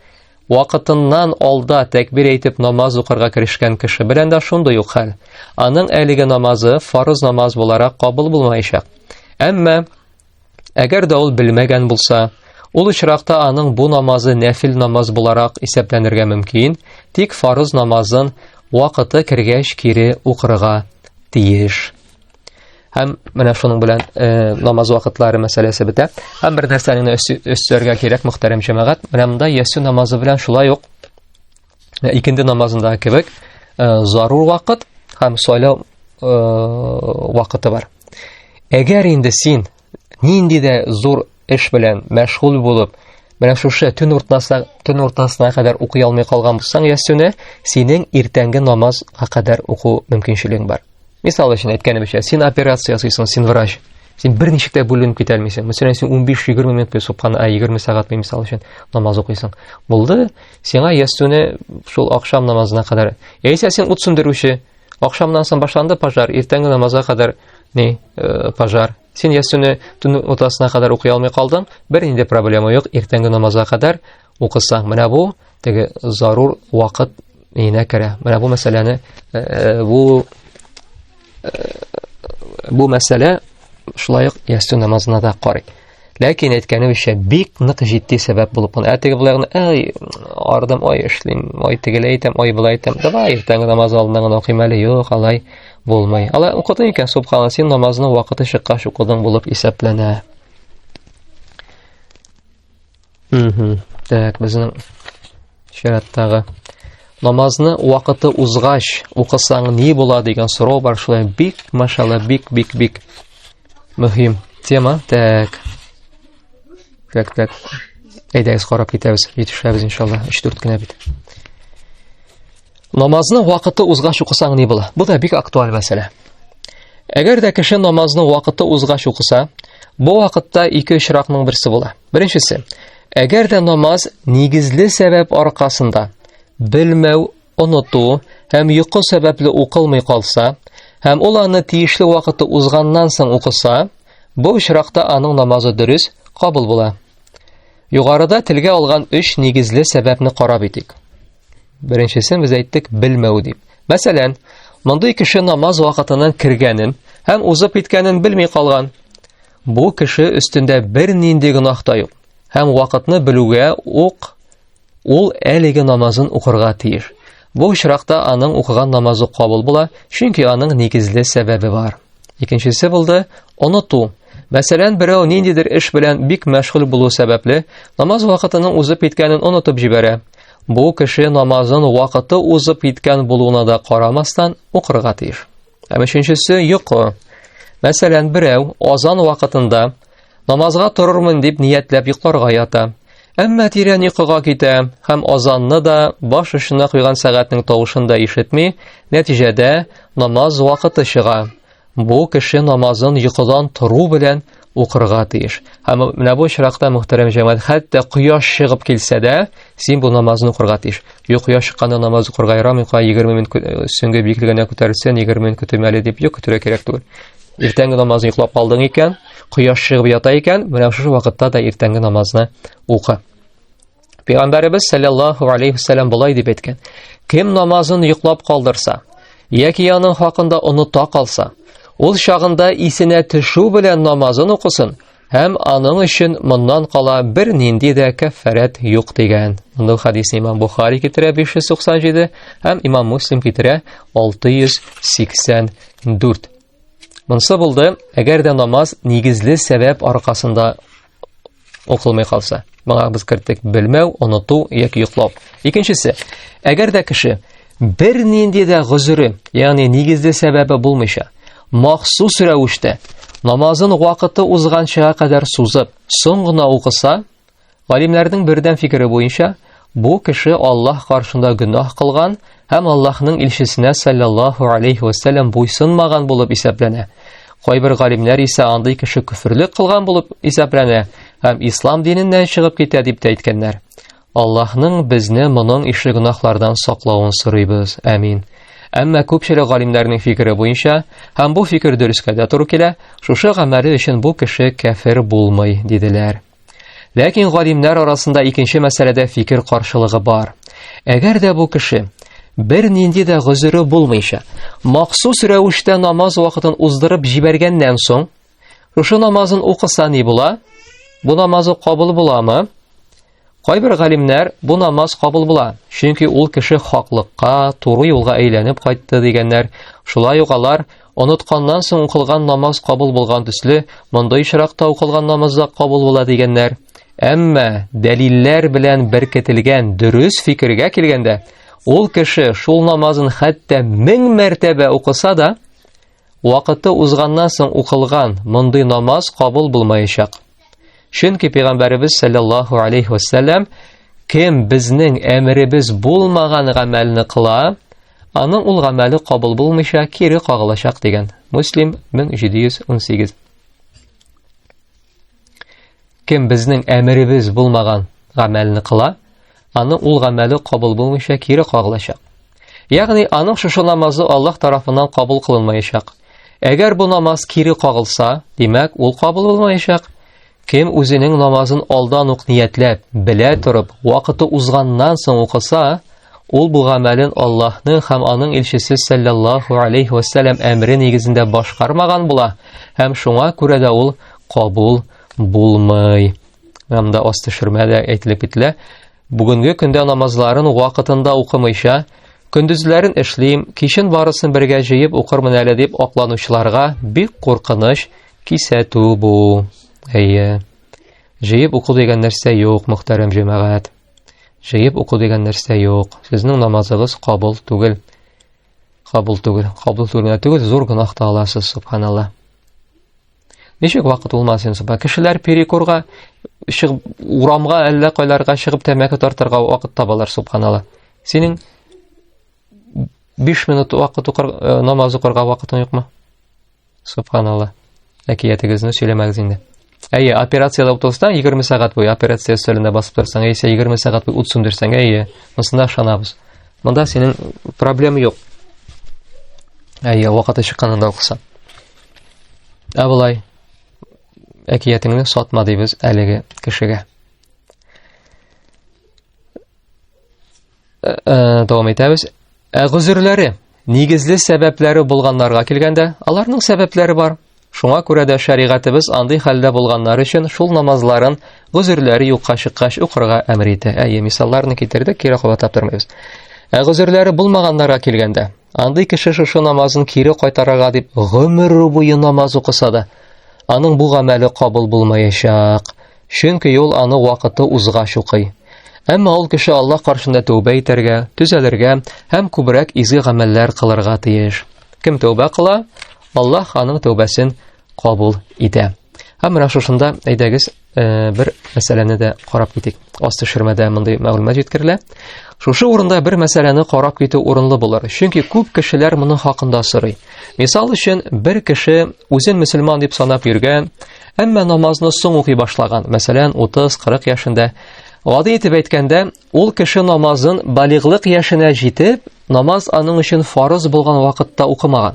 Speaker 1: Вакытыннан алда тәкбир әйтеп намаз укырга керешкән кеше белән дә шундый ук хәл. Аның әлеге намазы фарыз намаз буларак кабул булмаячак. Әмма Әгәр дә ул белмәгән булса, ул очракта аның бу намазы нәфил намаз буларак исәпләнергә мөмкин, тик фарыз намазын вакыты кергәч кире укырга тиеш. Һәм менә шуның белән э, намаз вакытлары мәсьәләсе бетә. Һәм бер нәрсәне өстәргә кирәк, мөхтәрәм җәмәгать, менә монда ясу намазы белән шулай ук Ә икенде намазындагы кебек, э, зарур вакыт һәм сайлау э, вакыты бар. Әгәр инде син нинди дә зур эш белән мәшгуль булып, менә шушы төн уртасына төн уртасына кадәр укый алмый калган булсаң ясүне, синең иртәнге намазга кадәр уку мөмкинчелегең бар. Мисал өчен әйткәнебезчә, син операция ясыйсың, син врач. Син бер ничек тә бүленеп китә алмыйсың. Мәсәлән, син 15-20 минут бер субхан, а 20 сәгать бер мисал өчен намаз укыйсың. Булды. Сиңа ястүне шул ахшам намазына кадәр. Яисә син ут сүндерүче. Ахшамнан соң башланды пожар, иртәнге намазга кадәр ни э, пожар. Син ястүне төн утасына кадәр укый алмый калдың. Бернинди проблема юк, иртәнге намазга кадәр укысаң. Менә бу теге зарур вакыт иенә керә. Менә бу мәсьәләне э, э, бу бу мәсьәлә шулай ук ястү намазына да карый ләкин әйткәнебезчә бик нык җитди сәбәп булып кала ә теге былай ай ардым ай эшлим ай тегеләй итәм ай былай итәм давай иртәнге намаз алдына гына укыйм әле юк алай булмый алай укыдың икән субхана син намазның вакыты чыккач укыдың булып исәпләнә Угу. Так, безнең чираттагы намазны вакыты узгач укысаң ни була дигән сорау бар шулай бик машалла бик бик бик мөһим тема так так так әйдәгез карап китәбез җитешәбез иншалла өч дүрт кенә бит Намазны вакыты узгач укысаң ни була? Бу да бик актуаль мәсьәлә. Әгәр дә кеше намазны вакыты узгач укыса, бу вакытта ике очракның берсе була. Беренчесе, әгәр дә намаз нигезле сәбәп аркасында белмәү, оныту һәм йокы сәбәпле укылмый калса, һәм ул аны тиешле вакыты узганнан соң укыса, бу очракта аның намазы дөрес кабул була. Югарыда телгә алган өч нигезле сәбәпне карап итик. Беренчесен без әйттек белмәү дип. Мәсәлән, мондый кеше намаз вакытының кергәнен һәм узып киткәнен белми калган. Бу кеше өстендә бер нинди гөнаһ та юк. Һәм вакытны белүгә ук ул әлеге намазын укырга тиеш. Бу очракта аның укыган намазы кабул була, чөнки аның нигезле сәбәбе бар. Икенчесе булды оныту. Мәсәлән, берәү ниндидер эш белән бик мәшгуль булу сәбәпле, намаз вакытының узып киткәнен онытып җибәрә. Бу кеше намазын вакыты узып киткән булуына да карамастан укырга тиеш. Һәм өченчесе йокы. Мәсәлән, берәү азан вакытында намазга торырмын дип ниятләп йокларга ята. Әмма тирән йокыга китә һәм азанны да баш очына куйган сәгатьнең тавышын да ишетми, нәтиҗәдә намаз вакыты чыга. Бу кеше намазын йокыдан тору белән укырга тиеш. Һәм менә бу очракта мөхтәрәм җәмәгать, хәтта кояш чыгып килсә дә, син бу намазны укырга тиеш. Юк, кояш чыкканда намаз укырга ярамый, кая 20 минут э, сөнгә биеклегенә күтәрелсен, 20 минут көтим әле дип юк көтергә кирәк түгел. Иртәнге намазны йоклап калдың икән, кояш чыгып ята икән, менә шушы вакытта да иртәнге намазны укы. Пәйгамбәребез саллаллаху алейхи вәсәлләм болай дип әйткән: Кем намазын йоклап калдырса, яки аның хакында оныта калса, ул чагында исенә төшү белән намазын укысын, һәм аның өчен моннан кала бер нинди дә кәффәрәт юк дигән. Мондый хадисны Имам Бухари китерә 597 һәм Имам Муслим китерә 684. Монсы булды, әгәр дә намаз нигезле сәбәп аркасында укылмый калса. Моңа без керттек белмәү, оныту яки йоклау. Икенчесе, әгәр дә кеше бер нинди дә гозере, ягъни нигезле сәбәбе булмыйча, махсус рәвештә намазын вакыты узганчага кадәр сузып, соң гына укыса, Галимнәрнең бердәм фикере буенча, бу кеше Аллаһ каршында гөнаһ кылган һәм Аллаһның илчесенә саллаллаһу алейхи вәсәлләм буйсынмаган булып исәпләнә. Кайбер галимнәр исә андый кеше көферлек кылган булып исәпләнә һәм ислам диненнән чыгып китә дип тә әйткәннәр. Аллаһның безне моның ишле гөнаһлардан саклавын сорыйбыз. Амин. Әмма күпчелек галимнәрнең фикере буенча, һәм бу фикер дөрескә дә туры килә, шушы гамәле өчен бу кеше кәфер булмый, диделәр. Ләкин галимнәр арасында икенче мәсьәләдә фикер каршылыгы бар. Әгәр дә бу кеше бер нинди дә гозере булмыйча, махсус рәвештә намаз вакытын уздырып җибәргәннән соң, шушы намазын укыса ни була? Бу намазы кабул буламы? Кайбер галимнәр бу намаз кабул була, чөнки ул кеше хаклыкка, туры юлга әйләнеп кайтты дигәннәр. Шулай ук алар Онытканнан соң укылган намаз кабул булган төсле, мондый очракта укылган намаз да кабул була дигәннәр. Әмма дәлилләр белән беркетелгән дөрес фикергә килгәндә, ул кеше шул намазын хәтта мең мәртәбә укыса да, вакыты узганнан соң укылган мондый намаз кабул булмаячак. Чөнки пәйгамбәребез саллаллаху алейхи вәсәлләм кем безнең әмеребез булмаган гамәлне кыла, Аның ул гамәле кабул булмыйча кире кагылачак дигән. Муслим 1718. Кем безнең әмеребез булмаган гамәлне кыла, аны ул гамәле кабул булмыйча кире кагылачак. Ягъни аның шушы намазы Аллаһ тарафыннан кабул кылынмаячак. Әгәр бу намаз кире кагылса, димәк, ул кабул булмаячак. Кем үзенең намазын алдан ук ниятләп, белә торып, вакыты узганнан соң укыса, ул бу гамәлен Аллаһны һәм аның илчесе саллаллаһу алейхи ва саллям әмре нигезендә башкармаган була, һәм шуңа күрә дә ул кабул булмый. Һәм дә аст төшермә дә әйтелеп кителә. Бүгенге көндә намазларын вакытында укымыйча, көндезләрен эшлим, кичен барысын бергә җыеп укырмын әле дип акланучыларга бик куркыныч Кисәтү бу. Әйе. Җыеп уку дигән нәрсә юк, мөхтәрәм җәмәгать. Җыеп уку дигән нәрсә юк. Сезнең намазыгыз кабул түгел. Кабул түгел. Кабул түгел. Түгел, зур гынах та аласыз, субханалла. Ничек вакыт улмасын, субха. Кешеләр перекурга, шыгып, урамга, әллә кайларга шыгып тәмәке тартырга вакыт табалар, субханалла. Синең 5 минут вакыт укыр, э, намаз укырга вакытың юкмы? Субханалла. Әкиятегезне сөйләмәгез инде. Әйе, операциядә утырсаң, 20 сәгать буе операция өстәлендә басып торсаң, яисә 20 сәгать буе ут сүндерсәң, әйе, монысына ышанабыз. Монда синең проблем юк. Әйе, вакыты чыкканында укыса. Ә болай, әкиятеңне сатма дибез әлеге кешегә. Э, э, дәвам итәбез. Ә гозерләре, нигезле сәбәпләре булганнарга килгәндә, аларның сәбәпләре бар. Шуңа күрә дә шәригатебез андый хәлдә булганнар өчен шул намазларын гозерләре юкка чыккач укырга әмер итә. Әйе, мисалларны китердек, кире кабатлап тормыйбыз. Ә гозерләре булмаганнарга килгәндә, Андый кеше шушы намазын кире кайтарырга дип гомер буе намаз укыса да, аның бу гамәле кабул булмаячак. Чөнки ул аны вакыты узгач укый. Әмма ул кеше Аллаһ каршында тәүбә итәргә, төзәлергә һәм күбрәк изге гамәлләр кылырга тиеш. Кем тәүбә кыла, Аллаһ аның тәүбәсен кабул итә. Һәм менә шушында әйдәгез э, бер мәсьәләне дә карап китик. Аз төшермәдә мондый мәгълүмат җиткерелә. Шушы урында бер мәсьәләне карап китү урынлы булыр. Чөнки күп кешеләр моның хакында сорый. Мисал өчен, бер кеше үзен мөселман дип санап йөргән, әмма намазны соң укый башлаган. Мәсәлән, 30-40 яшендә Гади итеп әйткәндә, ул кеше намазын балиглык яшенә җитеп, намаз аның өчен фарыз булган вакытта укымаган.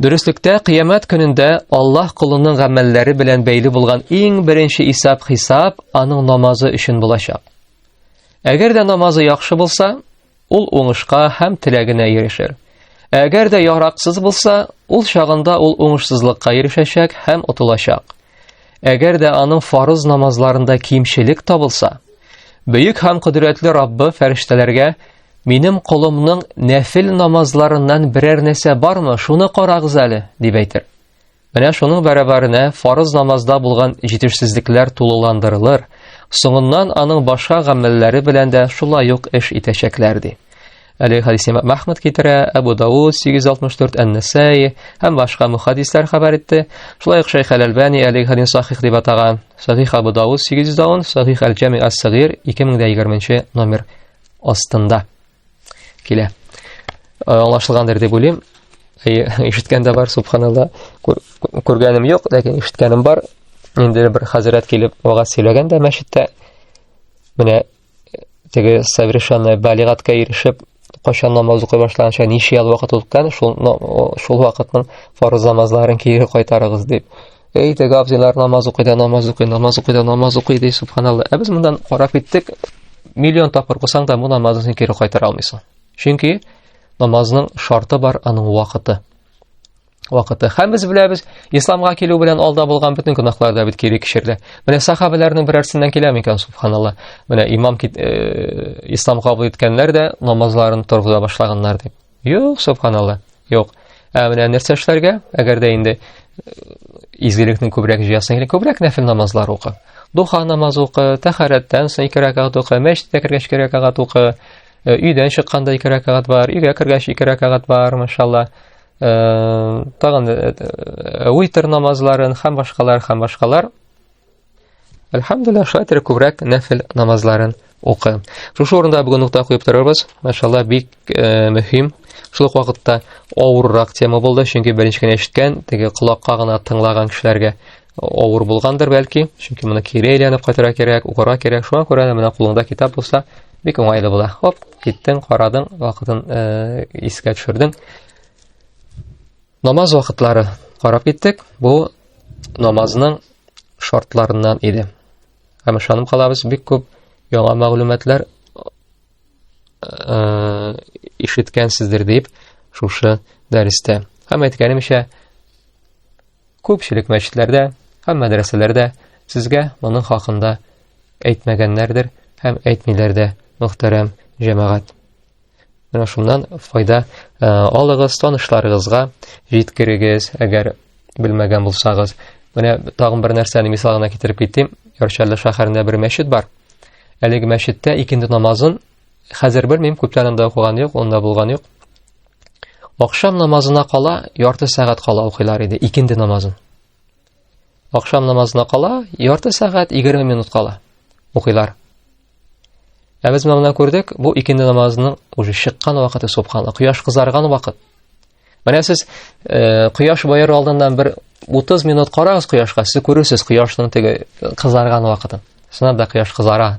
Speaker 1: Дөреслектә кыямәт көнендә Аллаһ кулының гамәлләре белән бәйле булган иң беренче исәп хисап аның намазы өчен булачак. Әгәр дә намазы яхшы булса, ул уңышка һәм теләгенә ирешер. Әгәр дә яраксыз булса, ул чагында ул уңышсызлыкка ирешәчәк һәм отылачак. Әгәр дә аның фарыз намазларында кимчелек табылса, бөек һәм кодрәтле Раббы фәрештәләргә Минем колымның нәфил намазларыннан берәр нәрсә бармы, шуны карагыз әле, дип әйтер. Менә шуның бәрабәренә фарыз намазда булган җитешсезлекләр тулыландырылыр, соңыннан аның башка гамәлләре белән дә шулай ук эш итәчәкләр ди. Әле хадис имам Әхмәд китерә, Әбу Дауд 864 Ән-Нәсаи һәм башка мөхәддисләр хәбәр итте. Шулай ук Шәйх Әл-Әлбани әле хадис сахих дип атаган. Сахих Абу Дауд 810, Сахих Әл-Җами ас-Сагир 2020 номер астында. Килә. Аңлашылгандыр дип уйлыйм. Ишеткән дә бар, субханалла. Күргәнем юк, ләкин ишеткәнем бар. Инде бер хәзрәт килеп вагаз сөйләгән дә мәчеттә. Менә теге совершенно балигатка ирешеп, кайчан намаз укый башлаганча ничә ел вакыт үткән, шул шул вакытның фарыз намазларын кире кайтарыгыз дип. Эй, теге абзыйлар намаз укый да, намаз укый, намаз укый да, намаз укый ди, субханалла. Ә без мондан карап киттек, миллион тапкыр кылсаң да, бу намазны син кире кайтара алмыйсың. Чөнки намазның шарты бар, аның вакыты. Вакыты. Һәм без беләбез, исламга килү белән алда булган бөтен гөнаһлар да бит кире кишерде. Менә сахабаларның берәрсеннән килә микән, субханалла. Менә имам кит, э, ислам кабул иткәннәр дә намазларын торгыза башлаганнар дип. Юк, субханалла. Юк. Ә менә нәрсә эшләргә? Әгәр дә инде изгелекне күбрәк җыясың, или күбрәк нәфил намазлар укы. Духа намаз укы, тәхәрәттән соң ике рәкәгать укы, мәчеткә кергәч ике рәкәгать укы, өйдән чыкканда ике рәкәгать бар, өйгә кергәч ике рәкәгать бар, машалла. Тагын уйтер намазларын һәм башкалар, һәм башкалар. Әлхәмдулилла, шулай итеп күбрәк нәфил намазларын укы. Шушы урында бүген нокта куеп торырбыз. Машалла, бик э, мөһим. Шул ук вакытта авыррак тема булды, чөнки беренче генә ишеткән, теге колакка гына тыңлаган кешеләргә авыр булгандыр бәлки, чөнки моны кире әйләнеп кайтырга кирәк, укырга кирәк. Шуңа күрә дә менә кулыңда китап булса, бик уңайлы була. Хоп, киттең, карадың, вакытын э, искә төшердең. Намаз вакытлары карап киттек. Бу намазның шартларыннан иде. Һәм ышанып калабыз, бик күп яңа мәгълүматлар э, ишеткәнсездер дип шушы дәрестә. Һәм әйткәнемчә, күпчелек мәчетләрдә һәм мәдрәсәләрдә сезгә моның хакында әйтмәгәннәрдер һәм әйтмиләр дә, мөхтәрәм җәмәгать. Менә шуннан файда э, алыгыз, танышларыгызга җиткерегез, әгәр белмәгән булсагыз. Менә тагын бер нәрсәне мисалына китереп китим. Яршәлле шәһәрендә бер мәчет бар. Әлеге мәчеттә икенде намазын хәзер белмим, күптән анда укыган юк, онда булган юк. Акшам намазына кала, ярты сәгать кала укыйлар иде икенде намазын. Ахшам намазына кала ярты сәгать 20 минут кала. Укыйлар. Ә без монда күрдек, бу икенде намазының уже чыккан вакыты субханла, кояш кызарган вакыт. Менә сез э, кояш баер алдыннан бер 30 минут карагыз кояшка, сез күрүсез кояшның теге кызарган вакытын. Сынап да кояш кызара.